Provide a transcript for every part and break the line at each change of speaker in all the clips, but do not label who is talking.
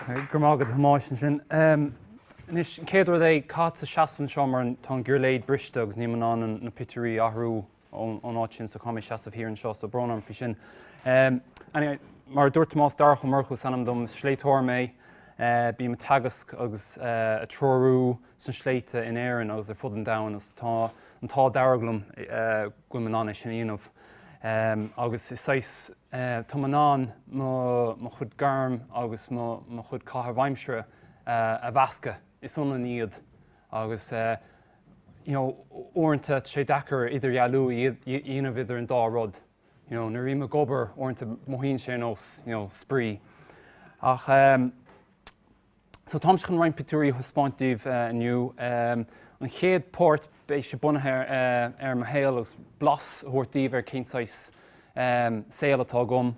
Go raibh maith agat a Thomáis as sin. Anois, an chéad rud é, caithfidh mé seasamh anseo mar tá an giuirléid briste agus níl mé in ann na pictiúirí a athrú ón áit sin so caithfidh mé seasamh thiar anseo so brón orm faoi sin. Anyway, mar a dúirt Tomás, Darach Ó Murchú is ainm dom, is sléibhteoir mé. Bím ag teagasc agus a treorú sna sléibhte in Éirinn agus ar fud an domhain agus tá an t-ádh dearg liom go bhfuil mé in ann é sin a dhéanamh agus is saghas, tá mé in ann mo chuid gairm agus mo chuid caitheamh aimsire a mheascadh, is ionann iad agus you know uaireanta tá sé deacair idirdhealú a dhéanamh idir an dá rud, you know nuair a bhím ag obair uaireanta mothaíonn sé ar nós you know spraoi ach ehm, So táimse chun roinnt pictiúirí a thaispeáint daoibh inniu. An chéad páirt, beidh sé bunaithe ar mo shaol agus blas a thabhairt daoibh ar cén saghas saol atá agam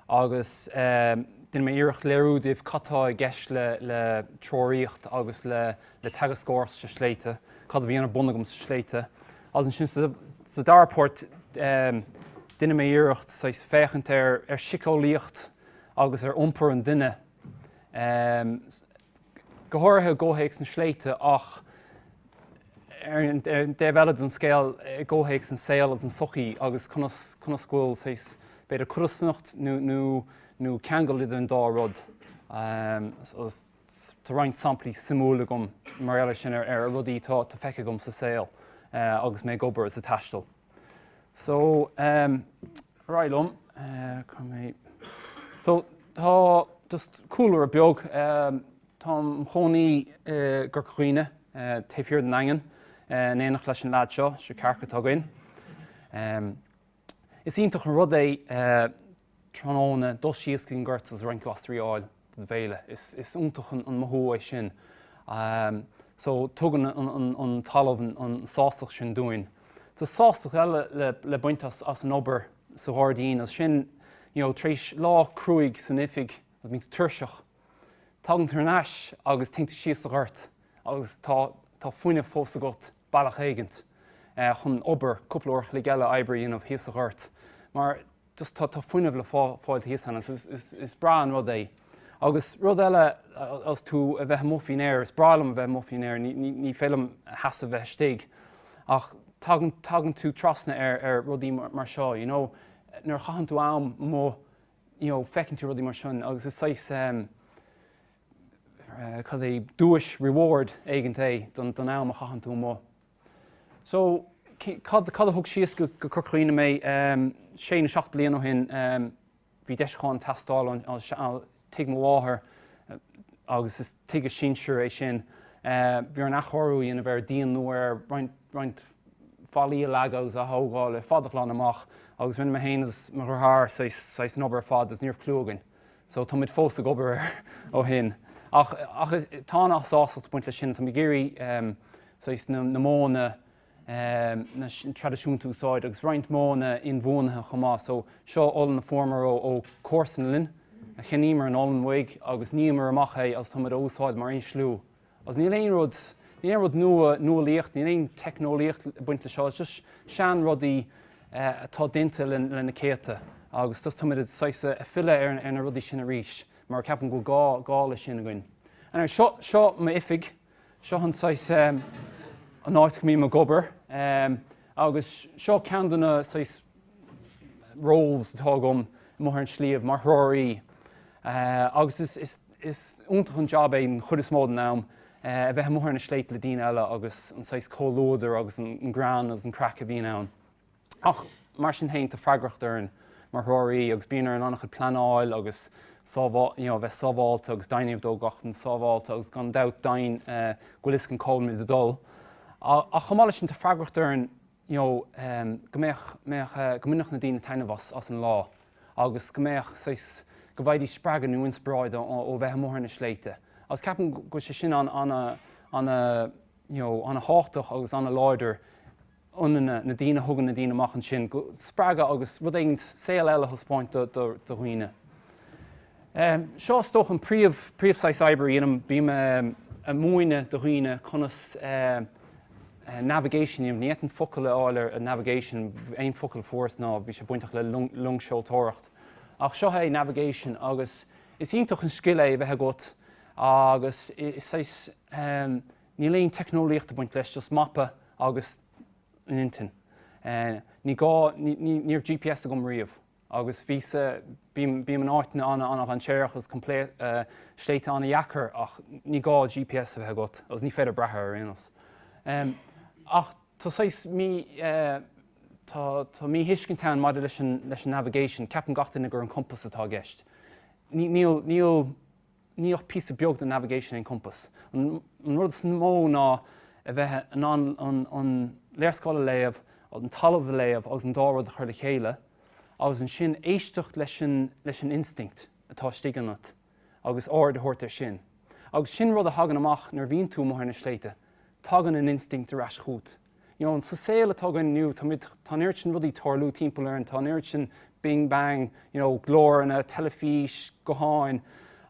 agus déanfaidh mé iarracht léiriú daoibh cad atá i gceist le treoraíocht agus le teagascóireacht sna sléibhte, cad a bhíonn ar bun agam sna sléibhte. Agus ansin sa dara páirt déanfaidh mé iarracht saghas féachaint ar shíceolaíocht agus ar iompar an duine go háirithe i gcomhthéacs na sléibhte ach ar an taobh eile den scéal i gcomhthéacs an saol agus an sochaí agus conas go bhfuil saghas b'fhéidir codarsnacht nó ceangal idir an dá rud. Tá roinnt samplaí suimiúil agam mar gheall air sin ar rudaí atá feicthe agam sa saol agus mé ag obair is ag taisteal. So ehm ar aghaidh liom eh cá mbeidh so tá just cúlra beag ehm táim i mo chónaí i gCorca Dhuibhne eh taobh thiar den Daingean eh in éineacht leis an leaid seo, seo cearc atá againn. Ehm is iontach an rud é eh tráthnóna, dul síos go dtí an gort agus roinnt glasraí a fháil don bhéile. Is iontach an mothú é sin. So, tugann an talamh an sástacht sin dúinn. Tá sástacht eile le baint as an obair sa ghairdín agus sin, you know, tar éis lá cruaidh san oifig agus muid tuirseach, tagann tú thar n-ais agus téann tú síos sa ghort agus tá fuinneamh fós agat, bealach éigint, chun obair cúpla uair a chloig eile oibre a dhéanamh thíos sa ghort. Mar. just tá tá fuinneamh le fáil thíos ann is is is breá an rud é agus rud eile as tú a bheith amuigh faoin aer is breá liom a bheith amuigh faoin aer ní ní ní féidir liom a sheasamh bheith istigh ach tagann tagann tú trasna ar ar rudaí mar seo you know nuair a chaitheann tú am amuigh you know feiceann tú rudaí mar sin agus is saghas ehm cad é duais reward éigint é don don am a chaitheann tú amuigh So, cad, cad a thug síos go, go Corca Dhuibhne mé? Ehm, sé nó seacht bliain ó shin, ehm, bhí deisiúcháin ag teastáil ón, ón sea, tigh mo mháthar, agus is tigh a sinsir é sin. Eh, bhí orainn athchóiriú a dhéanamh air, díon nua air, roinnt, roinnt fallaí a leagan agus a aththógáil ar fad, a ghlanadh amach, agus rinne mé fhéin agus mo dheartháir saghas, saghas an obair ar fad, agus ní raibh cliú againn. So tá muid fós ag obair air ó shin. Ach ach tá an-sástacht ag baint leis sin, tá muid ag iarraidh ehm saghas na na modhanna ehm na traidisiúnta a úsáid agus roinnt modhanna inbhuanaithe chomh maith. So seo olann a fuaireamar ó ó chomharsan linn, cheannaíomar an olann uaidh agus níomar amach é agus tá muid á úsáid mar insliú Agus níl aon rud, níl aon rud nua, nuálaíocht, níl aon teicneolaíocht ag baint leis seo, just seanrudaí atá déanta le na céadta agus just táimid ag, saghas, ag filleadh ar na rudaí sin arís mar ceapaim go bhfuil gá, gá leis sin againn. Anyway, seo, seo m'oifig, seo an saghas, an áit go mbím ag obair agus seo ceann de na, saghas, roles atá agam amuigh ar an sliabh, mar threoraí agus is, is, Is iontach an jab é den chuid is mó den am, a bheith amuigh ar na sléibhte le daoine eile agus an saghas comhluadar agus an greann agus an craic a bhíonn ann. Ach mar sin féin, tá freagracht orainn mar threoraí agus bíonn orainn an-chuid pleanáil agus you know a bheith sábháilte agus deimhin a dhéanamh de go bhfuil gach duine sábháilte agus gan dabht deimhin go bhfuil fhios againn cá bhfuil muid ag dul. Ach chomh maith leis sin, tá freagracht orainn, you know, go mbeadh, mbeadh, go mbainfeadh na daoine taitneamh as, as an lá agus go mbeadh saghas, go bhfaighidís spreagadh nó inspioráid ó bheith amuigh ar na sléibhte agus ceapaim go bhfuil sé sin an, ana, ana, you know, ana thábhachtach agus ana láidir ionainn na daoine, thugann na daoine amach ansin go, spreagadh agus rud éigin, saol eile a thaispeáint do, do, do dhaoine. Seo is dócha an príomh, príomh saghas oibre a dhéanaim, bím a' múineadh do dhaoine conas navigation, ní fhéadfainn focal a fháil ar navigation, aon focal a fuaireas ná bhí sé bainteach le loing, loingseoireacht, ach seo é navigation agus is iontach an scil é a bheith agat agus is saghas níl aon teicneolaíocht ag baint leis, just mapa agus an intinn. Ní gá, ní, ní, ní raibh GPS agam riamh. Agus bhí sa, bím, bím in áiteanna ana, an-dainséarach agus sléibhte an-deacair ach ní gá GPS a bheith agat agus ní féidir brath air ar aon nós. Ach tá saghas mí, tá, tá míthuiscint ann maidir leis an, leis an navigation, ceapann gach duine gur an compass atá i gceist. Níl, níl. Níl ach píosa beag de navigation in compás. An rud is mó ná a bheith in ann an léarscáil a léamh, an talamh a léamh agus an dá rud a chur le chéile agus ansin éisteacht leis an instinct atá istigh ionat agus aird a thabhairt ar sin. Agus sin rud a thagann amach nuair a bhíonn tú amuigh ar na sléibhte, tagann an instinct ar ais chugat. you know, sa saol atá againn inniu, táimid, tá an oiread sin rudaí tarlú timpeall orainn, tá an oiread sin bing bang, you know, glóranna, teilifís, gutháin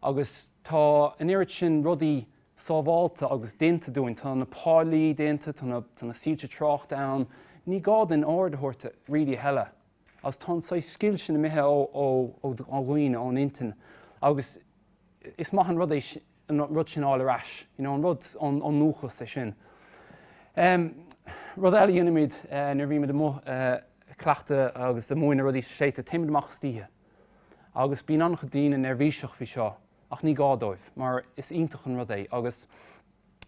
agus tá an oiread sin rudaí sábháilte agus déanta dúinn, tá na páilí déanta, tá na, tá na soilse tráchta ann, ní gá dúinn aird a thabhairt really a thuilleadh agus tá an saghas scil sin imithe ó, ó, ó, ó dhaoine, ón intinn agus is maith an rud é sin. an rud sin a fháil ar ais, you know, an rud ón ndúchas, é sin. Rud eile a dhéanaimid nuair a bhímid amuigh ag cleachtadh agus ag múineadh rudaí sna sléibhte, téimid amach istoíche agus bíonn an-chuid daoine neirbhíseach faoi seo ach ní gá dóibh mar is iontach an rud é agus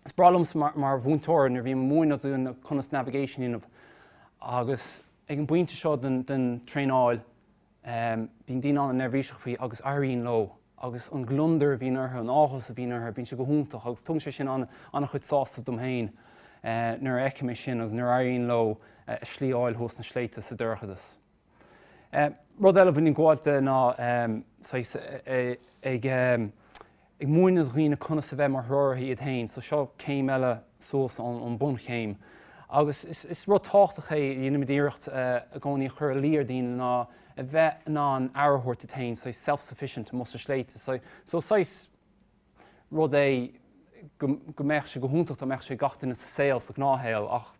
is breá liomsa mar mhúinteoir nuair a bhím ag múineadh daoine conas navigation a dhéanamh agus ag an bpointe seo den traenáil, Bíonn daoine an-neirbhíseach faoi agus éiríonn leo agus an gliondar a bhíonn orthu, an áthas a bhíonn orthu, bíonn sé go hiontach agus tugann sé sin an-chuid sástacht dom féin nuair a fheicim é sin agus nuair a éiríonn leo a slí a fháil thuas sna sléibhte sa dorchadas. Rud eile a bhíonn ag gabháilt de ná saghas ag. ag múineadh do dhaoine conas a bheith mar threoraithe iad féin, so seo céim eile suas ón bunchéim. Agus is rud tábhachtach a dhéanaimid iarracht i gcónaí a chur i luí ar dhaoine ná a bheith in ann aire a thabhairt duit féin, so self sufficient amuigh sna sléibhte, so so saghas rud é go mbeadh sé go hiontach dá mbeadh sé ag gach duine sa saol sa ghnáthshaol ach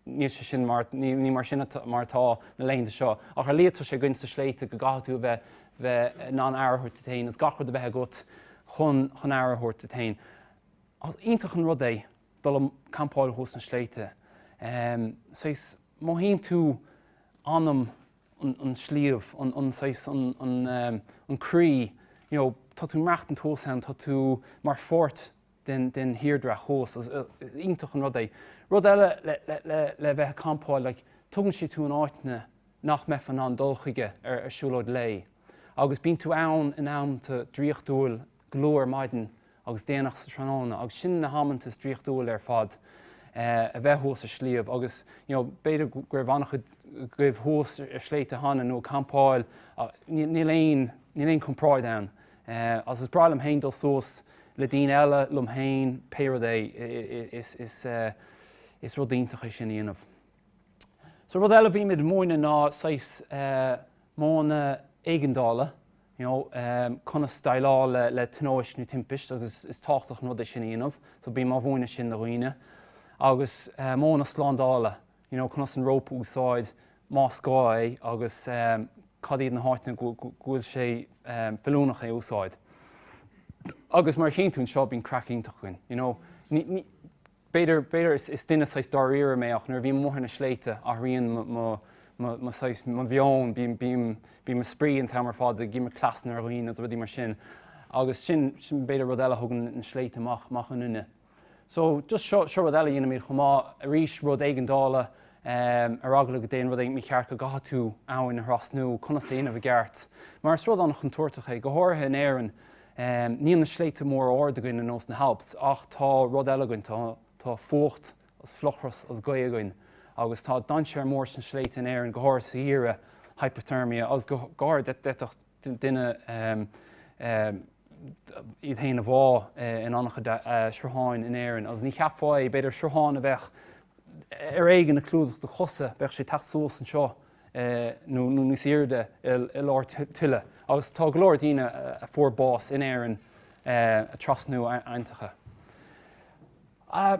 níl sé sin mar, ní mar sin mar atá na laethanta seo, ach ar lia tá sé againn sna sléibhte go gcaithfidh tú a bheith bheith in ann aire a thabhairt duit féin agus gach rud a bheith agat chun chun aire a thabhairt duit féin. Ach iontach an rud é dul ag campáil thuas sna sléibhte. Saghas, mothaíonn tú anam an an sliabh, an an saghas an an an croí, you know tá tú ag maireachtaint thuas ann, tá tú mar pháirt, den thírdhreach thuas. Is iontach an rud é. Rud eile le bheith ag campáil, like, tugann sé tú in áiteanna nach mbeifeá in ann dul chuige ar siúlóid lae. Agus bíonn tú ann in amanta draíochtúil go luath ar maidin agus déanach sa tráthnóna agus sin na hamanta is draíochtúla ar fad, a bheith thuas ar sliabh agus, you know, b'fhéidir go raibh an-chuid agaibh thuas ar shléibhte cheana nó ag campáil, níl aon, níl aon chomparáid ann. Eh agus is breá liom féin dul suas le daoine eile, liom féin, pé rud é, is is eh is rud iontach é sin a dhéanamh. So rud eile a bhímid ag múineadh ná saghas eh modhanna éigeandála, you know, em conas déileáil le le tionóisc nó timpist agus is tábhachtach an rud é sin a dhéanamh, so bím á mhúineadh sin do dhaoine. Agus eh modhanna slándála, you know, conas an rópa a úsáid más gá é agus cad iad na háiteanna go bhfuil sé feiliúnach é a úsáid. Agus mar a tchíonn tú anseo, bíonn craic iontach againn, you know. B'fhéidir is duine saghas dáiríre mé ach nuair a bhím amuigh ar na sléibhte, athraíonn mo saghas, mo mheon, bíonn mé ag spraoi an t-am ar fad, ag imirt cleasanna ar dhaoine agus rudaí mar sin. Agus sin, b'fhéidir, rud eile a thugann na sléibhte amach ionainne. So, just seo, seo rud eile a dhéanaimid chomh maith, arís rud éigeandála, ar eagla go dtéann rud éigin mícheart go gcaithfidh tú abhainn a thrasnú, conas é a dhéanamh i gceart. Mar is rud an-chontúirteach é, go háirithe in Éirinn, níl na sléibhte móra arda againn ar nós na hAlps ach tá rud eile againn, tá, tá fuacht agus fliuchras agus gaoth againn agus tá dainséar mór sna sléibhte in Éirinn, go háirithe sa gheimhreadh, hypothermia, agus go háirithe d'fhéadfadh, duine iad féin a bhá in an-chuid srutháin in Éirinn agus ní cheapfá é, b'fhéidir sruthán a bheadh ar éigean ag clúdach do chosa, bheadh sé ag teacht suas anseo nó níos airde i lár tuile agus tá go leor daoine a fuair bás in Éirinn ag trasnú aibhnteacha.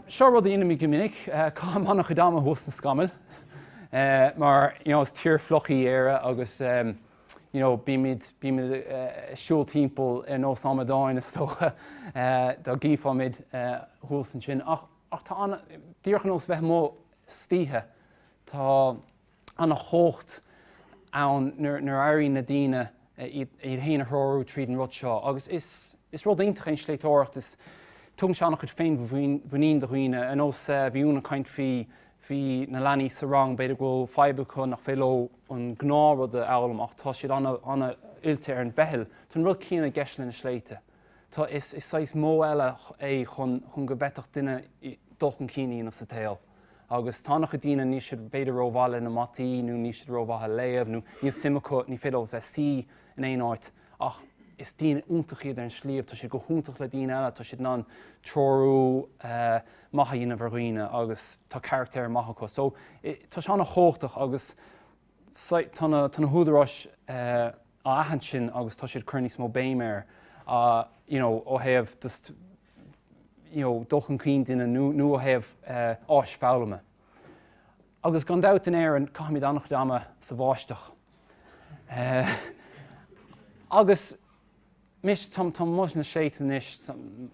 Seo rud a dheinimid go minic, caithim an-chuid ama thuas sna scamaill mar you know is tír fliuch í Éire agus you know bímid bímid ag siúl timpeall ar nós amadáin is dócha dá gcífí muid thuas ansin ach ach tá an díreach ar nós bheith amuigh istoíche tá an-chumhacht ann nuair a éiríonn na daoine iad féin a threorú tríd an rud seo agus is rud iontach é an sléibhteoireacht is tugann sé an-chuid féinmhuinín do dhaoine ar nós bhí Úna ag caint faoi na leanaí sa rang b'fhéidir go bhfuil fadhb acu nach bhféidir leo an gnáthrud a fhoghlaim ach tá siad an-oilte ar an bpeil, tá an rud céanna i gceist le na sléibhte, tá, is saghas modh eile é chun go bhféadfadh duine dul chun cinn a dhéanamh sa tsaol. agus tá an-chuid daoine níl siad b'fhéidir rómhaith leis na mataí nó níl siad rómhaith ag léamh nó níl suim acu, ní féidir leo bheith suí in aon áit ach is daoine iontacha iad ar an sliabh, tá siad go hiontach le daoine eile, tá siad in ann treorú maith a dhéanamh ar dhaoine agus tá carachtar maith acu so tá sé an-chumhachtach agus tá na húdaráis á aithint sin agus tá siad ag cur níos mó béime air you know ó thaobh just you know, dul chun cinn duine nó, nó ó thaobh áis foghlama. Agus gan dabht in Éirinn caithimid an-chuid ama sa bháisteach. Agus mise, tá, táim amuigh sna sléibhte anois,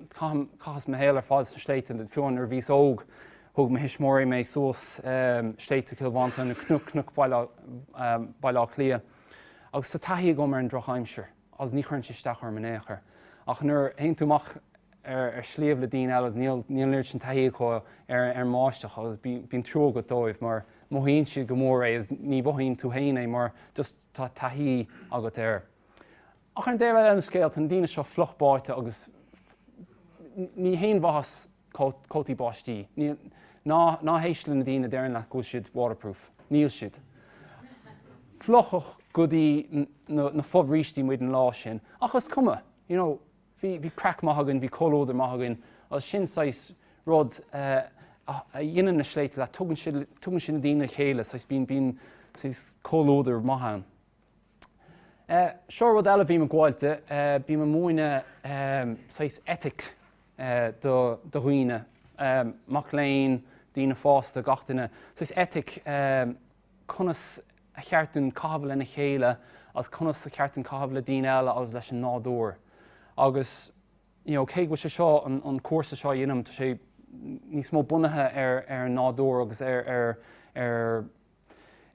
caithim, caitheas mo shaol ar fad sna sléibhte, fiú nuair a bhíos óg, thug mo thuismitheoirí mé suas sléibhte Chill Mhantáin, nó cnoic, cnoic Bhaile Átha Cliath. Agus tá taithí agam ar an drochaimsir. a's ní chuireann sé isteach orm in ao'chor, ach nuair a théann tú amach ar shliabh le daoine eile, níl an oiread sin taithí acu ar an mbáisteach, agus bíonn trua agat dóibh, mar mothaíonn siad go mór é, a's ní mhothaíonn tú fhéin é, mar just tá taithí agat air. Ach ar an dtaobh eile den scéal, tá na daoine seo fliuch báithte, agus ní haon mhaitheas cótaí báistí. Ná héist le na daoine a deireann leat go bhfuil siad waterproof. Níl siad. Fliuchadh go dtí na fobhrístí muid an lá sin ach is cuma, you know, bhí craic maith againn, bhí comhluadar maith againn agus sin saghas rud a dhéanann na sléibhte leat, tugann sé na daoine le chéile, saghas bíonn saghas comhluadar maith ann. Seo rud eile a bhím ag gabháil di, bím ag múineadh saghas eitic do dhaoine, mac léinn, daoine fásta, gach duine, saghas eitic conas a cheart dúinn caitheamh lena chéile agus conas a cheart dúinn caitheamh le daoine eile agus leis an nádúr. Agus you know cé go bhfuil sé seo, an cúrsa seo a dhéanaim, tá sé níos mó bunaithe ar an nádúr agus ar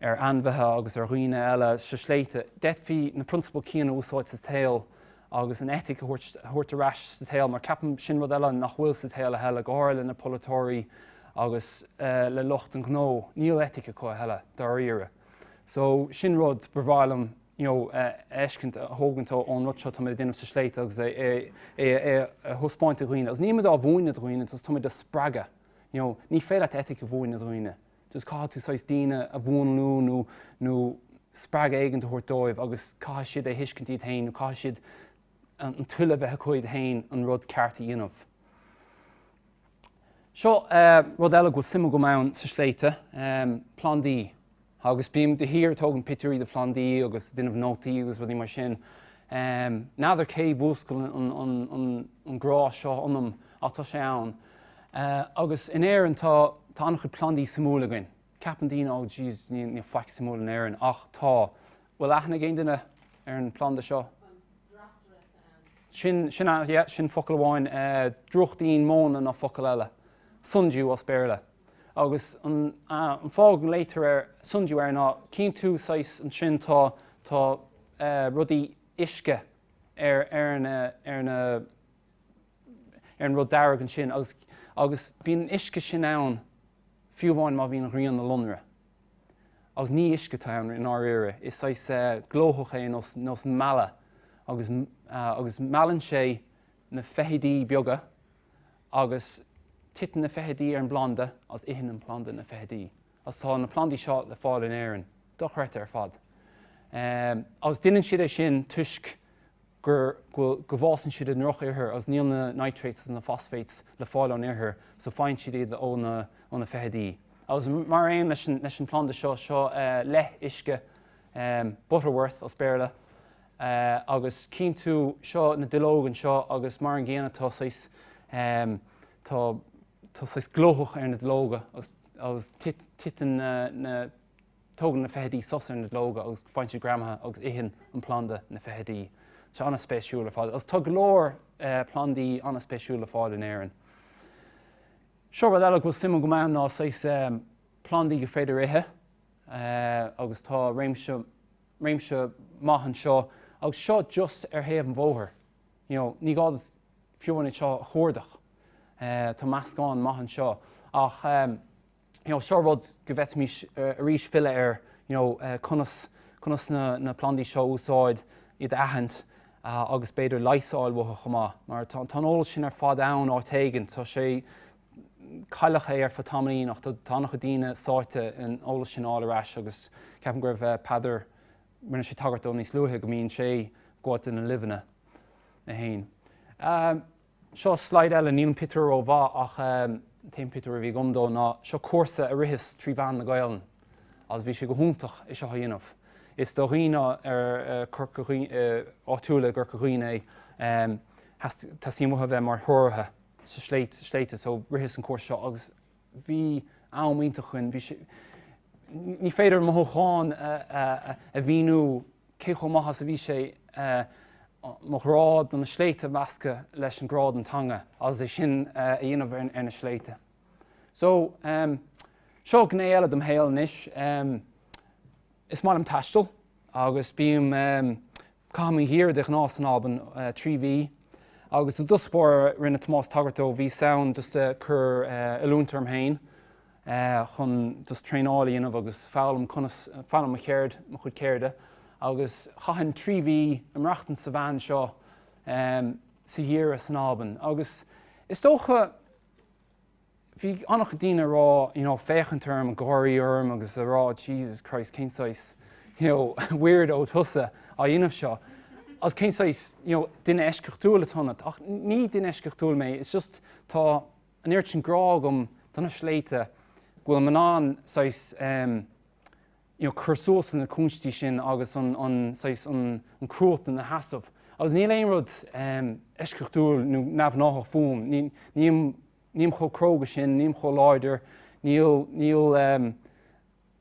ar ainmhithe agus ar dhaoine eile sna sléibhte, d'fhéadfaí na prionsabail céanna a úsáid sa tsaol agus an eitic a thabhairt ar ais sa tsaol, mar ceapaim, sin rud eile nach bhfuil sa tsaol a thuilleadh, go háirithe le na polaiteoirí agus le lucht an ghnó, níl eitic acu a thuilleadh, dáiríre. So, sin rud ba mhaith liom you know a fheiscint, a thógaint ón rud seo atá muid ag déanamh sna sléibhte agus é a thaispeáint do dhaoine, agus níl muid á mhúineadh do dhaoine, tá muid á spreagadh, you know, ní féidir leat eitic a mhúineadh do dhaoine. Just caithfidh tú saghas daoine a mhúnlú nó, nó spreagadh éigint a thabhairt dóibh agus caithfidh siad é a thuiscint iad féin nó caithfidh siad an toil a bheith acu iad féin an rud ceart a dhéanamh. Seo rud eile go bhfuil suim agam ann sa sléibhte, plandaí. Agus bím de shíor ag tógaint pictiúirí de phlandaí agus ag déanamh nótaí agus rudaí mar sin. N'fheadar cé mhúscail an grá seo ionam Ach tá sé ann. Agus in Éirinn, tá, tá an-chuid plandaí suimiúla againn. Ceapann daoine, oh jeez, níl, níl faic suimiúil in Éirinn. Ach tá. Bhfuil aithne ag aon duine ar an planda seo? An Drosera ant. Sin, sin ant, yeah, sin focal amháin. Drúchtín móna ná focal eile. Sundew as Béarla. Agus an, an fáth go nglaoitear air Sundew air ná, chíonn tú saghas, ansin tá, tá rudaí uisce ar, ar na, ar na, ar an rud dearg ansin agus, agus bíonn an uisce sin ann fiú amháin má bhíonn an ghrian ina lonradh. Agus ní uisce atá ann i ndáiríre, is saghas eh, glóthach é nós, nós meala agus, ah, agus meallann sé na feithidí beaga agus titeann na feithidí ar an bplanda agus itheann an planda na feithidí. Agus tá na plandaí seo le fáil in Éirinn. Dochreidte ar fad. Agus deineann siad é sin toisc gur, bhuel, go bhfásann siad i ndroch ithir agus níl na nitrates agus na phosphates le fáil ón ithir so faigheann siad iad ó na, ó na feithidí. Agus mar aon leis an, leis an planda seo, seo leith uisce, butterwort as Béarla, agus cíonn tú, seo na duilleoga anseo agus mar an gcéanna tá saghas, tá, tá saghas glóthach ar na duilleoga agus titeann na, tógann na feithidí sos ar na duilleoga agus faigheann siad greamaithe agus itheann an planda na feithidí. Sé an-spéisiúil ar fad agus tá go leor plandaí an-spéisiúil le fáil in Éirinn. Seo rud eile go bhfuil suim agam ann ná saghas plandaí gur féidir ithe agus tá réimse, réimse maith anseo agus seo just ar thaobh an bhóthair. you know ní gá duit fiú amháin iad seo a chuardach tá meascán maith anseo ach em you know seo rud go bhféadfaimis arís filleadh ar you know conas conas na na plandaí seo a úsáid iad a aithint agus b'fhéidir leigheas a fháil uathu chomh maith mar tá tá an eolas sin ar fad ann áit éigin tá sé cailleadh é ar feadh tamaillín ach tá tá an-chuid daoine sáite in eolas sin a fháil ar ais agus ceapaim go raibh Peadar Rinne sé tagairt dó níos luaithe go mbíonn sé ag gabháilt do na luibheanna é féin. Seo slide eile, níl an pictiúr ró mhaith ach an t-aon pictiúr a bhí agam dó ná seo cúrsa a ritheas trí mheán na Gaelainne agus bhí sé go hiontach é seo a dhéanamh. Is do dhaoine áitiúla i gCorca Dhuibhne é, teastaíonn uathu a bheith mar threoraithe sna sléibhte so ritheas an cúrsa seo agus Bhí am iontach againn. Bhí sé. ní féidir mothúchán a mhíniú cé chomh maith is a bhí sé mo ghrá do na sléibhte a mheascadh leis an grá don teanga agus é sin a dhéanamh ar na sléibhte. So, seo gné eile de mo shaol anois. Is maith liom taisteal agus bím, em, caithim an gheimhreadh de ghnáth san Albain, eh, trí mhí agus i dtosach báire rinne Tomás tagairt dó, bhíos ann just ag cur eh oiliúint orm féin eh chun just traenáil a dhéanamh agus foghlaim conas, foghlaim mo cheird, mo chuid ceirde agus chaithinn trí mhí ag maireachtaint sa veain seo em sa gheimhreadh san Albain agus is dócha, bhí an-chuid daoine ag rá, you know, féachaint orm, ag gáirí orm agus a rá Jesus Christ, cén saghas weirdo thusa á dhéanamh seo? Agus cén saghas duine eisceachtúil atá ionat? Ach ní duine eisceachtúil mé, it's just tá an oiread sin grá agam do na sléibhte go bhfuilim in ann saghas, em, you know cur suas le na cúinsí sin agus an saghas, an cruatan a sheasamh agus níl aon rud eisceachtúil nó neamhghnáthach fúm, nílim, nílim chomh cróga sin, nílim chomh láidir, níl, níl,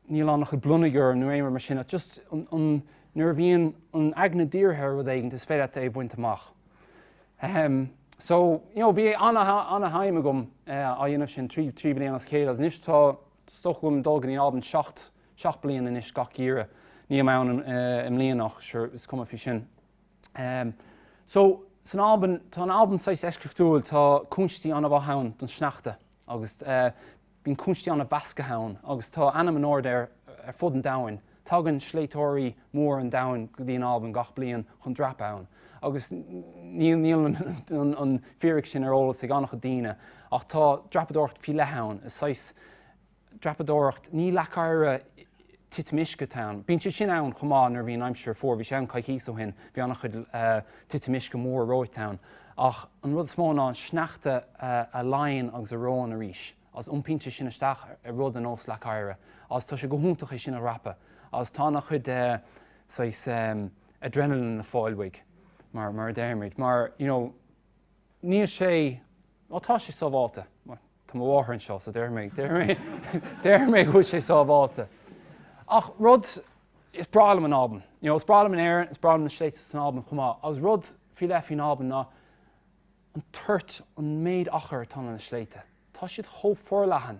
níl an-chuid blonag orm nó aon rud mar sin ach just an, nuair a bhíonn an aigne dírithe ar rud éigin is féidir leat é a bhaint amach. Ahem, so, you know bhí ana, ana, ana, thime agam á dhéanamh sin trí, trí bliana as a chéile agus anois tá, Is dócha go bhfuilim ag dul go dtí an Albain seacht, seacht bliain anois gach geimhreadh. Ní mbím ann i mbliana ach sure is cuma faoi sin. So, san Albain, tá an Albain saghas eisceachtúil, tá cúinsití an-mhaith ann don sneachta agus bíonn cúinsití an-mheasctha ann agus tá ainm in airde air ar fud an domhain. Tagann sléibhteoirí mór an domhain go dtí an Albain gach bliain chun dreapadh ann agus níl an fíric sin ar eolas ag an-chuid daoine ach tá dreapadóireacht faoi leith ann, is saghas dreapadóireacht, ní leac oighir titim uisce atá ann, bíonn siad sin ann chomh maith nuair a bhíonn aimsir fuar, bhí sé ann coicíos ó shin, bhí an-chuid titim uisce mór reoite ann ach an rud is mó ná an sneachta a leánn agus a reoann arís. a's iompaíonn sé sin isteach i rud ar nós leac oighir, a's tá sé go hiontach é sin a dhreapadh, a's tá ana chuid eh. saghas ehm. adrenaline le fáil uaidh, mar, mar a deir muid, mar, you know, níl sé, bhuel tá sé sábháilte, bhuel, tá mo mháthair anseo so déarfaidh mé go bhfuil sé sábháilte. Ach rud, is breá liom an Albain, you know, is breá liom in Éirinn, is breá liom na Sléibhte san Albain chomh maith, a's rud faoi leith faoin Albain ná, an toirt, an méid achair atá ag na sléibhte, tá siad chomh forleathan.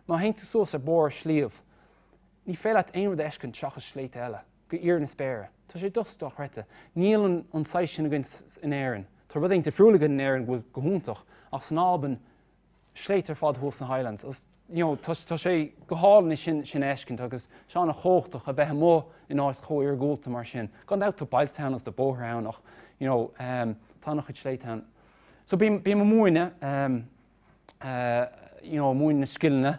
Má théann tú suas ar barr sliabh, ní féidir leat aon rud a fheiscint seachas sléibhte eile, go híor na spéire. Tá sé dochreidte. Níl an saghas sin againn in Éirinn. Tá rud éigin difriúil againn in Éirinn go bhfuil go hiontach, ach san Albain, sléibhte ar fad thuas sna Highlands agus you know tá, tá sé go hálainn é sin, sin a fheiscint agus tá sé an-chumhachtach a bheith amuigh in áit chomh iargúlta mar sin. Gan dabht tá bailte ann agus tá bóithre ann ach you know ehm tá an-chuid sléibhte ann. So bím, bím ag múineadh ehm, eh you know ag múineadh na scileanna,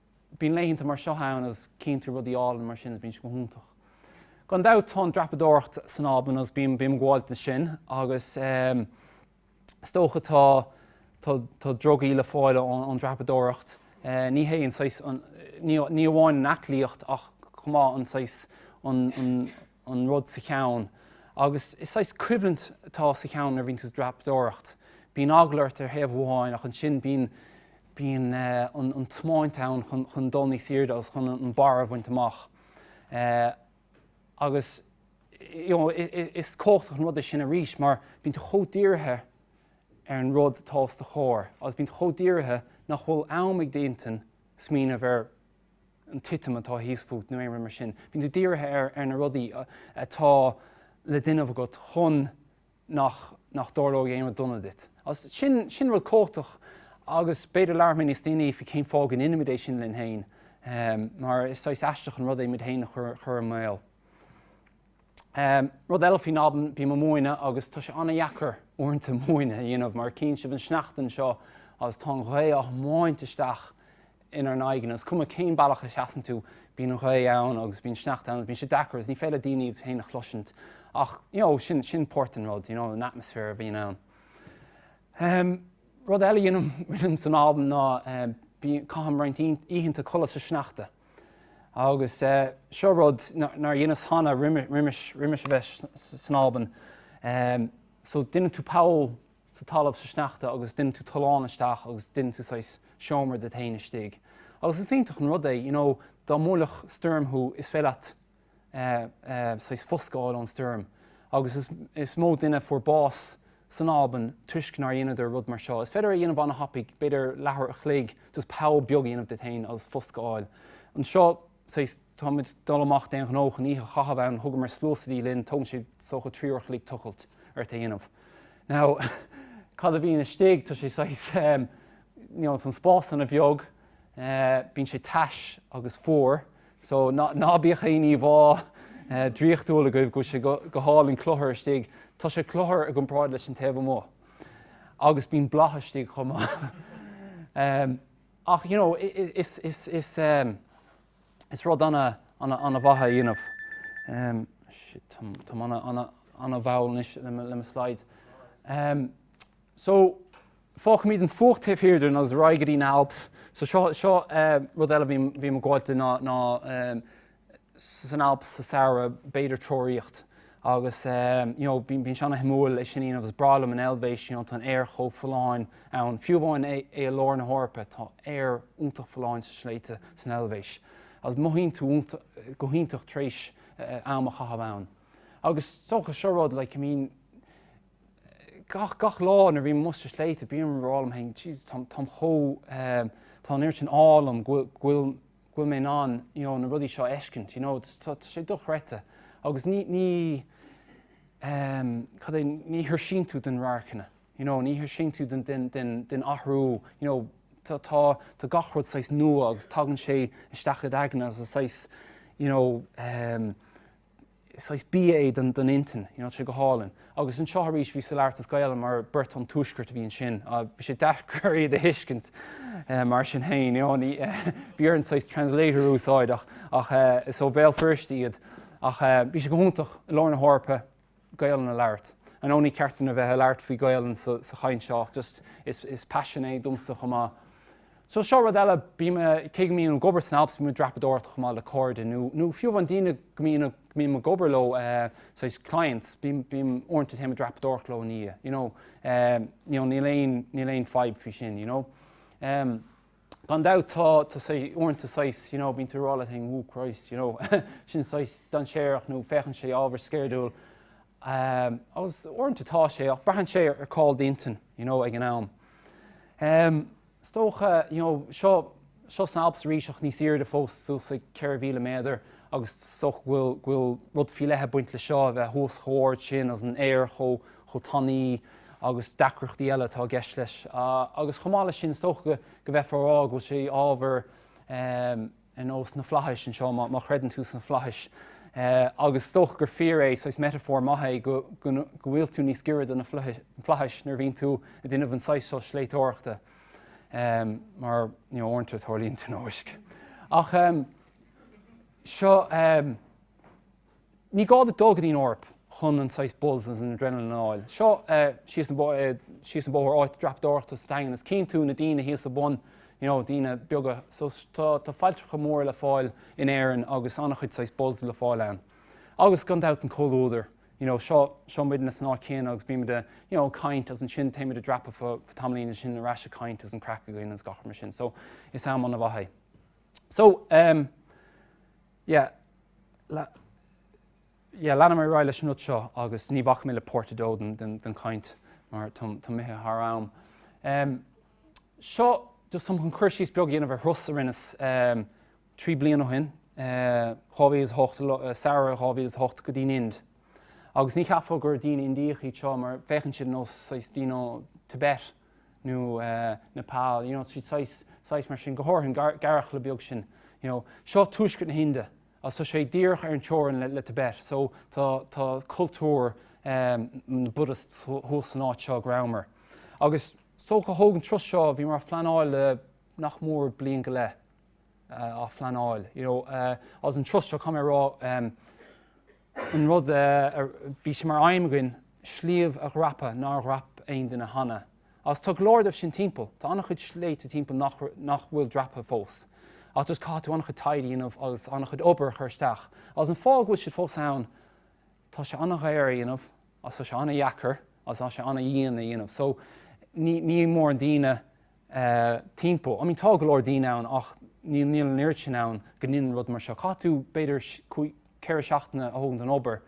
Bíonn laethanta mar seo ann agus cíonn tú rudaí álainn mar sin agus bíonn sé go hiontach. Gan dabht tá an dreapadóireacht san Albain agus bím ag gabháil ansin agus is dócha tá tá drugaí le fáil ón dreapadóireacht, ní hé an saghas, ní amháin an aclaíocht ach chomh maith an saghas, an rud sa cheann agus is saghas coimhlint atá sa cheann nuair a bhíonn tú ag dreapadóireacht, bíonn eagla ort ar thaobh amháin ach ansin bíonn, bíonn an tiomáint ann chun dul níos airde agus chun an barr a bhaint amach agus is cumhachtach an rud é sin arís mar bíonn tú chomh dírithe ar an rud atá os do chomhair agus bíonn tú chomh dírithe nach bhfuil am ag d'intinn smaoineamh ar an titim atá thíos fút nó aon rud mar sin. Bíonn tú dírithe ar na rudaí atá le déanamh agat chun nach nach dtarlóidh aon rud dona duit. As sin, sin rud cumhachtach agus b'fhéidir labhróidh mé níos déanaí faoi cén fáth go ndeinimid é sin linn féin, mar is saghas aisteach an rud é muid féin a chur chur i mbaol. Rud eile faoin Albain, bím ag múineadh agus tá sé an-dheacair uaireanta múineadh a dhéanamh mar cíonn sibh an sneachta anseo agus tá an ghaoth á thiomáint isteach inár n-aghaidheanna. Is cuma cén bealach a sheasann tú, bíonn an ghaoth ann agus bíonn sneachta ann agus bíonn sé deacair agus ní féidir le daoine iad féin a chloisint ach you know sin, sin páirt den rud, you know an atmosphere a bhíonn ann. Ahem, rud eile a dheinim san Albain ná bíonn, caithim roinnt oícheanta codladh sa sneachta agus eh seo rud nár dheineas cheana roimis, roimis, roimis a bheith san Albain, ahem so deineann tú poll, sa talamh sa sneachta agus deineann tú tollán isteach agus deineann tú saghas seomra duit fhéin istigh agus is iontach an rud é you know dá mbuailfeadh stoirm thú is féidir leat saghas foscadh a fháil ón stoirm agus is mó duine fuair bás san Albain toisc nár dheineadar rud mar seo is féidir é a dhéanamh ana thapaidh b'fhéidir leathuair a chloig just poll beag a dhéanamh duit fhéin agus foscadh a fháil anseo sea, tá muid dul amach d'aon ghnó chun oíche a chaitheamh ann, thugamar sluasaidí linn, tógann sé, is dócha, trí uair a chloig tochailt mhór a dhéanamh. Now, cad a bhíonn istigh? Tá sé saghas, em, you know, tá an spás ana bheag, eh, bíonn sé tais agus fuar, so ná, ná bíodh aon íomhá, eh, draíochtúil agaibh go bhfuil sé go, go hálainn cluthar istigh, tá sé cluthar i gcomparáid leis an taobh amuigh. Agus bíonn boladh istigh chomh maith. Em. Ach you know is is rud ana ana ana mhaith a dhéanamh. shit tá mé ana ana ana mhall anois le mo slides. So fágfaimid an fuacht taobh thiar dúinn agus ar aghaidh go dtí na Alps. So seo seo rud eile bím bím gafa leis ná ná san Alps sa samhradh, b'fhéidir ag treoraíocht agus you know bíonn sé ana-thaitneamhach é sin a dhéanamh, is breá liom an Eilvéis you know tá an aer chomh folláin ann, fiú amháin é i lár na hEorpa tá aer iontach folláin sna sléibhte san Eilvéis agus mothaíonn tú go hiontach tar éis am a chaitheamh ann agus is dócha seo rud like I mean gach, gach lá nuair a bhím amuigh sna sléibhte bím ag rá liom féin jeez tá, táim chomh, tá an oiread sin ádh liom go bhfuil, go bhfuil. go bhfuil mé in ann you know na rudaí seo a fheiscint you know tá sé dochreidte agus ní ní em cad é ní thuirsíonn tú de na radharcanna you know ní thuirsíonn tú den den den den athrú you know tá tá tá gach rud saghas nua agus tagann sé isteach id aigne is is saghas you know em saghas bia é don intinn, you know, tá sé go hálainn. Agus anseo arís bhíos ag labhairt as Gaelainn mar beirt ón Tuaisceart a bhí ansin, bhí sé deacair iad a thuiscint mar sin féin, you know, bhí orainn saghas translator a úsáid ach, ach is ó Bhéal Feirste iad ach bhí sé go hiontach i lár na hEorpa Gaelainn a labhairt. I know ní ceart dúinn a bheith ag labhairt faoi Ghaelainn sa chaint seo ach just is, is passion é domsa chomh maith. So seo rud eile, bím i, cé go mbím ag obair san Alps, bím ag dreapadóireacht chomh maith le cairde nó, nó fiú amháin daoine go mbím, go mbím ag obair leo, saghas clients, bím, bím, uaireanta téim ag dreapadóireacht leo ina dhiaidh, you know, you know níl aon, níl aon fadhb faoi sin, you know. Gan dabht tá, tá saghas, uaireanta saghas, you know, bíonn tú ag rá le daoine, oh Christ, you know, sin saghas dainséarach nó féachann sé ábhar sceirdiúil agus uaireanta tá sé ach braitheann sé ar cá bhfuil d'intinn, you know, ag an am. is dócha, you know, seo, seo sna Alps aríseach níos airde fós, suas ag 4,000 méadar agus is dócha go bhfuil, go bhfuil rud faoi leith ag baint le seo, a bheith thuas chomh ard sin agus an aer chomh, chomh tanaí agus deacrachtaí eile atá i gceist leis agus chomh maith le sin is dócha go, go bhféadfá a rá go bhfuil sé ábhar, eh, ar nós na flaithis anseo, má chreideann tú sna flaithis, agus is dócha gur fíor é, saghas metaphor maith é go bhfuil tú níos giorra do na flaithis nuair a bhíonn tú ag déanamh an saghas seo sléibhteoireachta, mar uaireanta tarlaíonn tionóisc. Ach seo. Ní gá duit dul go dtí an Eoraip chun an saghas buzz agus an adrenaline a fháil. Seo síos an bóthar, áit dreapadóireachta sa Daingean, is tchíonn tú na daoine thíos sa bhun, you know, daoine beaga. So tá failltreacha móra le fáil in Éirinn agus an-chuid saghas buzz le fáil ann. Agus gan dabht an comhluadar, you know, seo, seo muidinne san áit chéanna agus bímid ag, you know, ag caint agus ansin téimid ag dreapadh fé tamaillín agus ansin ar ais ag caint agus an craic againn agus gach rud mar sin. So is am an-mhaith é. So, em. Yeah, la, yeah, leanfaidh mé ar aghaidh leis an rud seo agus ní bhacfaidh mé le páirt a dó den, den, den chaint mar tá, táim imithe thar am. Um, seo, just táim chun cur síos beag a dhéanamh ar thuras a rinneas um, trí bliana ó shin, uh, 2008, uh, samhradh 2008 go dtí'n Ind. Agus ní cheapfá gur daoine Indiach iad seo mar féachann siad ar nós, you know, daoine ó Tibet. nó Nepal, you know, tá siad saghas, saghas mar sin, go háirithe an gearrchaile beag sin, you know. Seo tuaisceart na hInde, agus tá sé díreach ar an teorainn le, le Tibet, so tá, tá cultúr na mBuddhists thuas san áit seo go rabhamar. Agus, is dócha, thóg an turas seo, bhíomar á phleanáil le nach mór bliain go leith. á phleanáil, you know, agus an turas seo, caithfidh mé a rá, an rud a bhí sé mar aidhm againn sliabh a dhreapadh nár dhreap aon duine cheana agus tá go leor díobh sin timpeall, tá an-chuid sléibhte timpeall nach, nach bhfuil dreaptha fós ach just caithfidh tú an-chuid taighde a dhéanamh agus an-chuid obair a chur isteach agus an fáth go bhfuil siad fós ann, tá sé an-dhaor a dhéanamh agus, tá sé an-deacair agus, tá sé an-dhian a dhéanamh so níl móran daoine timpeall, I mean tá go leor daoine ann ach níl an oiread sin ann go ndéanann rud mar seo, caithfidh tú b'fhéidir cúig, ceithre seachtaine a thógaint ón obair,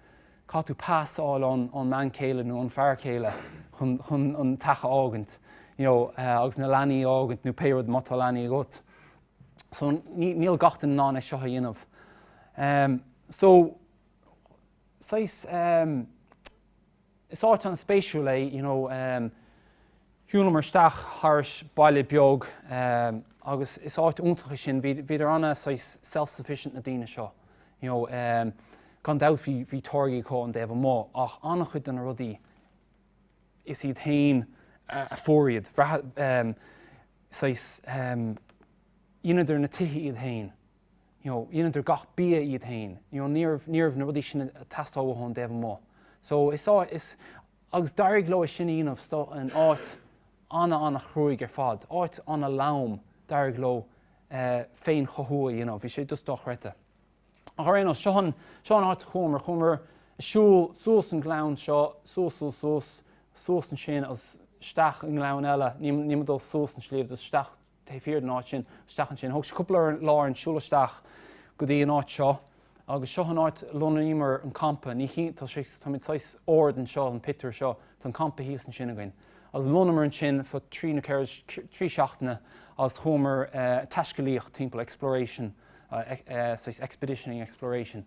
caithfidh tú pas a fháil ón mbean chéile nó ón fear chéile chun an teach a fhágaint you know agus na leanaí a fhágaint nó pé rud, má tá leanaí agat so níl gach duine in ann é seo a dhéanamh. So. saghas, em. is áit an-spéisiúil é, you know, em. shiúlamar isteach thar ais baile beag, em, agus is áit iontach é sin, bhí, bhíodar ana, saghas, self-sufficient na daoine seo, you know, em. gan dabht bhí, bhí táirgí acu ón dtaobh amuigh ach an-chuid de na rudaí is iad féin a fuair iad, em, saghas, em. dheineadar na tithe iad féin, you know, dheineadar gach bia iad féin, you know, ní raibh, ní raibh na rudaí sin ag teastáil uathu ón dtaobh amuigh. So is á, is, agus d'éirigh leo é sin a dhéanamh sto in áit ana, ana chruaidh ar fad, áit ana lom, d'éirigh leo eh féin chothú a dhéanamh, bhí sé just dochreidte. Ach ar aon nós, seo an, seo an áit a chuamar, chuamar ag siúl suas an gleann seo, suas, suas, suas, suas ansin agus isteach i ngleann eile, ní, níl muid ag dul suas an sliabh, just isteach, taobh thiar den áit sin, isteach ansin. Thóg sé cúpla lá orainn siúl isteach go dtí an áit seo agus seo an áit a lonnaíomar an campa. Ní chí, tá sé, táimid saghas ard anseo, an pictiúr seo, tá an campa thíos ansin againn. Agus lonnaíomar ansin faoi trí nó ceithre, trí seachtaine agus chuamar taiscealaíocht timpeall, exploration, saghas expeditioning, exploration.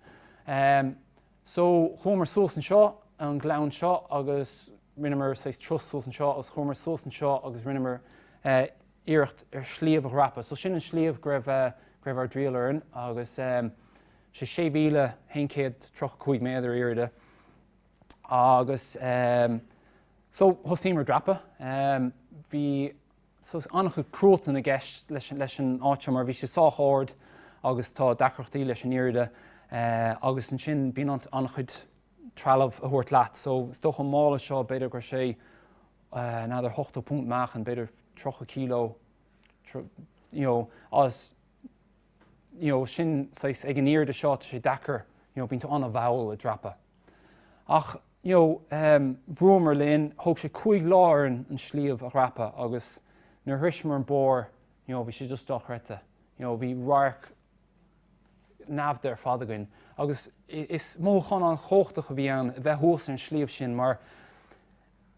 So chuamar suas anseo, an gleann seo agus rinneamar saghas turas suas anseo agus chuamar suas anseo agus rinneamar iarracht ar shliabh a dhreapadh, so sin an sliabh go raibh, go raibh ár dtriall orainn agus sé, sé mhíle haon chéad tríocha cúig méadar airde agus so thosnaíomar ag dreapadh, bhí saghas an-chuid cruatan i gceist leis, leis an áit seo mar bhí sé sách ard agus tá deacrachtaí leis an airde agus ansin bíonn an-chuid trealamh a thabhairt leat. So, is dócha an mála seo, b'fhéidir go raibh sé another hochtó punt meáchain, b'fhéidir tríocha kilo, you know, agus, you know, sin saghas, ag an airde seo, tá sé deacair, you know, bíonn tú an-mhall ag dreapadh. Ach, you know, ehm, bhrúamar linn, thóg sé cúig lá orainn an sliabh a dhreapadh agus nuair a shroicheamar an barr, you know, bhí sé just dochreidte, you know, bhí radharc neamhaí ar fad againn agus is mothúchán an-chumhachtach a bhí ann a bheith thuas ar an sliabh sin mar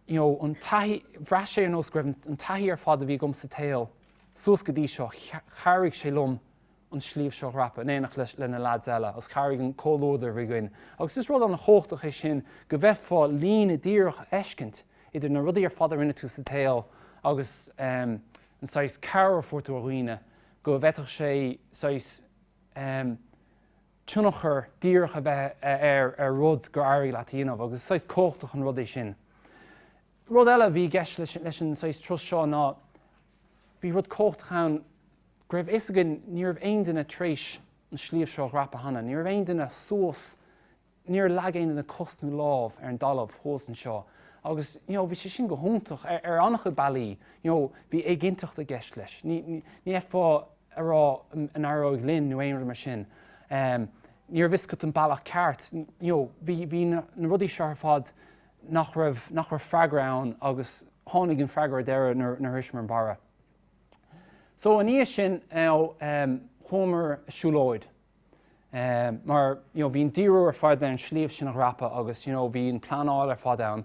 you know an taithí, bhraith sé ar nós go raibh an taithí ar fad a bhí agam sa tsaol suas go dtí seo, chabhraigh sé liom an sliabh seo a dhreapadh in éineacht le le na lads eile agus chabhraigh an comhluadar a bhí againn agus is rud an-chumhachtach é sin go bhféadfá líne díreach a fheiscint idir na rudaí ar fad a rinne tú sa tsaol agus ehm an saghas cabhair a fuair tú ó dhaoine go bhféadfadh sé saghas tionchar díreach a bheith ar rud gur éirigh leat a dhéanamh, agus is saghas cumhachtach an rud é sin. Rud eile a bhí i gceist leis an saghas turas seo ná bhí rud cumhachtach ann go raibh fhios againn ní raibh aon duine tar éis an sliabh seo a dhreapadh cheana, ní raibh aon duine suas níor leag aon duine cos nó lámh ar an dtalamh thuas anseo agus you know bhí sé sin go hiontach ar an-chuid bealaí, you know bhí éiginnteacht i gceist leis, ní fhéadfá a rá an éireoidh linn nó aon rud mar sin, ní raibh fhios agat an bealach ceart, you know bhí na rudaí seo ar fad nach raibh, nach raibh freagra ann agus tháinig an freagra ar deireadh nuair a shroicheamar an barra. So ina dhiaidh sin you know chuamar ag siúlóid, mar you know bhí an díriú ar fad ar an sliabh sin a dhreapadh agus you know bhí an pleanáil ar fad ann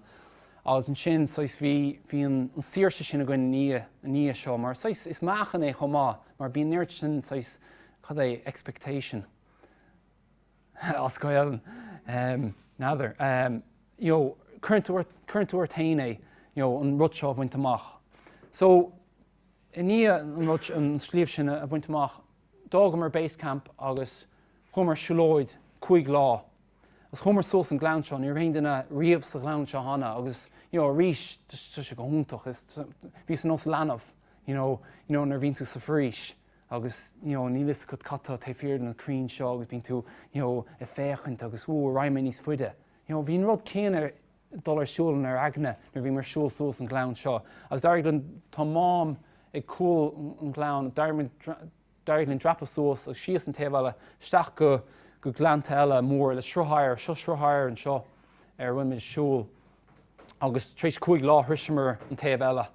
agus ansin saghas bhí bhí an saoirse sin againn i ndiaidh i ndiaidh seo mar saghas is meáchan é chomh maith mar bíonn an neart sin saghas cad é expectation as Gaeilge em n'fheadar em you know cuireann tú ort cuireann tú ort féin é you know an rud seo a bhaint amach so i ndiaidh an rud an sliabh sin a bhaint amach D'fhágamar Base Camp agus chuamar ag siúlóid cúig lá agus chuamar suas an gleann seo. Ní raibh aon duine riamh sa ghleann seo cheana agus you know arís tá sé go hiontach is bhíos ar nós leanbh you know you know nuair a bhíonn tú sa bhforaois agus you know níl fhios agat cad tá taobh thiar de na crainn seo agus bíonn tú you know ag féachaint agus woo ar aghaidh mé níos faide you know bhí an rud céanna dul ar siúl inár n-aigne nuair a bhíomar ag siúl suas an gleann seo agus d'éirigh linn, tá mám ag cúl an ghleann, d'éirigh linn dreapadh suas agus síos an taobh eile, isteach go go gleannta eile mar le sruth oighir, seo sruth oighir anseo ar a bhain muid siúl agus tar éis cúig lá shroicheamar an taobh eile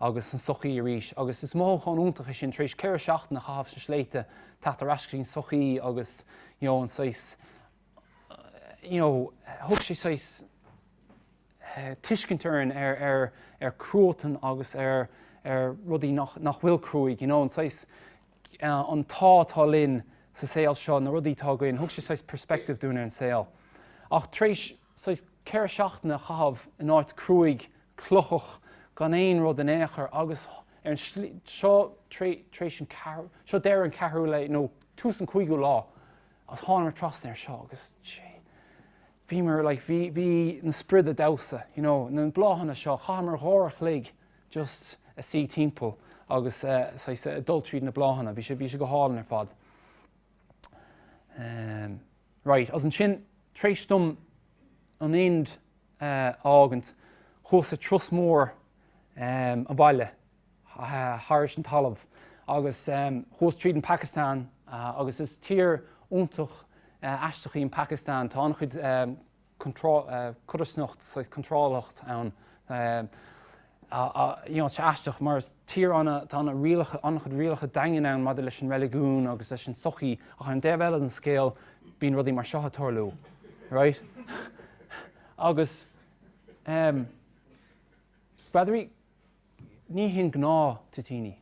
agus an sochaí arís agus is mothúchán iontach é sin tar éis ceithre seachtaine a chaitheamh sna sléibhte teacht ar ais go dtí an sochaí agus you know an saghas you know, thug sé saghas tuiscint dúinn ar, ar, ar cruatan agus ar, ar rudaí nach, nach bhfuil cruaidh, you know, an saghas, an t-ádh atá linn sa saol seo, na rudaí atá againn, thug sé saghas perspective dúinn ar an saol. Ach tar éis saghas ceithre seachtaine a chaitheamh in áit cruaidh, clochach, gan aon rud in aon chor agus ar an slí, seo, tar éis an ceathrú, seo deireadh an cheathrú lae, no, tús an cúigiú lá, Ach thánamar trasna air seo agus bhíomar, like, bhí, bhí na sprioda ag damhsa, you know, na bláthanna seo, chaitheamar dhá uair a chloig just a' suí timpeall agus saghas a' dul tríd na bláthanna, bhí sé, bhí sé go hálainn ar fad. Ehm, right, agus ansin, tar éis dom an Ind a fhágaint, chuas ar thuras mór, ehm, abhaile, thar an talamh agus chuas tríd an Phacastáin agus is tír iontach aisteach í an Phacastáin, tá an-chuid codarsnacht, saghas contráileacht ann, you know, tá sé aisteach mar is tír ana, tá ana rialacha, an-chuid rialacha daingean ann maidir leis an reiligiún agus leis an sochaí ach ar an dtaobh eile den scéal bíonn rudaí mar seo ag tarlú, right? Agus, em, féach air? Ní hin gnáth-thoitíní.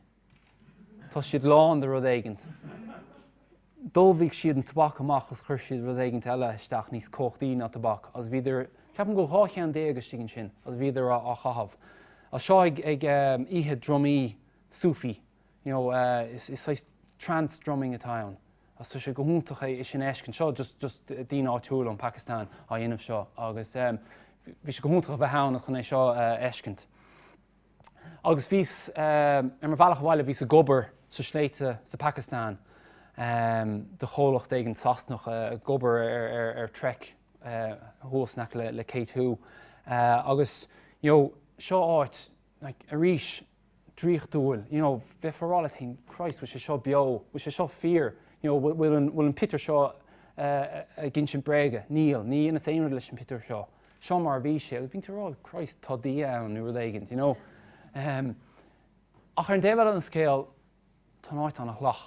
Tá siad lán de rud éigint. D'fholmhaigh siad an tobac amach agus chuir siad rud éigint eile isteach níos cumhachtaí ná tobac agus bhíodar, ceapaim go bhfuil dhá cheann déag istigh ansin, agus bhíodar á chaitheamh. Agus seo ag oíche drumaí Sufi you know, is saghas trance drumming atá ann agus tá sé go hiontach é sin a fheiscint seo just just daoine áitiúla ón Phacastáin á dhéanamh seo agus bhí sé go hiontach a bheith ann chun é seo a fheiscint. Agus bhíos ar mo bhealach abhaile bhíos ag obair sa sléibhte sa Phacastáin do chomhlacht éigint Sasanach ag obair ar Trek thuas in aice le K2 agus you know seo áit like, arís, draíochtúil, you know, bheifeá a rá leat féin, Christ, bhfuil sé seo beo, bhfuil sé seo fíor, you know, bhfuil an, bhfuil an pictiúr seo ag insint bréaga, níl, níor dheineas aon rud leis an pictiúr seo, seo mar a bhí sé, agus bíonn tú a rá, Christ, tá Dia ann, nó rud éigint, you know. Um, ach ar an dtaobh eile den scéal, tá an áit ana-shalach.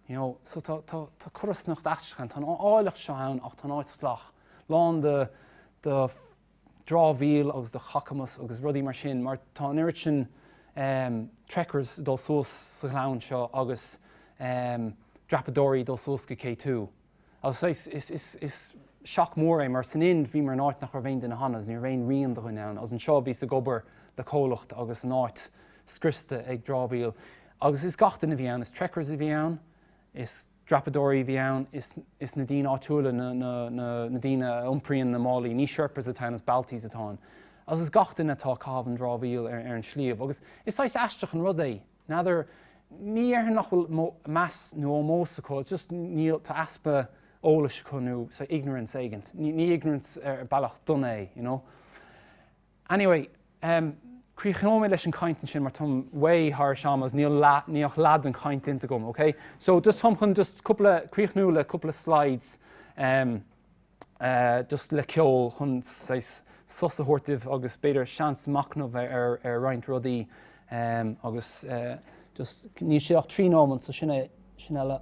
you know, so tá, tá, tá codarsnacht aisteach ann, tá an áilleacht seo ann ach tá an áit salach, lán de, de dhramhaíl agus de chacamas agus rudaí mar sin mar tá an oiread sin ehm trekkers ag dul suas sa ghleann seo agus ehm dreapadóirí ag dul suas go K2. Agus is shock mór é, mar san Ind bhíomar in áit nach raibh aon duine cheana, ní raibh aon rian de dhuine ann, agus anseo bhíos ag obair le comhlacht agus an áit scriosta ag dramhaíl, agus is gach duine a bhí ann, is trekkers a bhí ann, is dreapadóirí a bhí ann, is na daoine áitiúla, na daoine a iompraíonn na málaí, ní sherpas atá ann, is Baltis atá ann, agus is gach duine atá ag caitheamh an dramhaíl ar an sliabh, agus is saghas aisteach an rud é, N'fheadar, ní dhéarfainn nach bhfuil meas nó ómós acu, it's just níl, tá easpa eolais acu nó say ignorance éigin, ní ignorance ar bealach dona é you know. Anyway, em, críochnóidh mé leis an gcaint ansin mar táim way thar am agus níl leath, níl ach leath den chaint déanta agam, okay? So just táim chun just cúpla, críochnú le cúpla slides, em, just le ceol chun saghas sos a thabhairt daoibh agus b'fhéidir seans machnamh ar roinnt rudaí agus just níl sé ach trí neomat so sin é le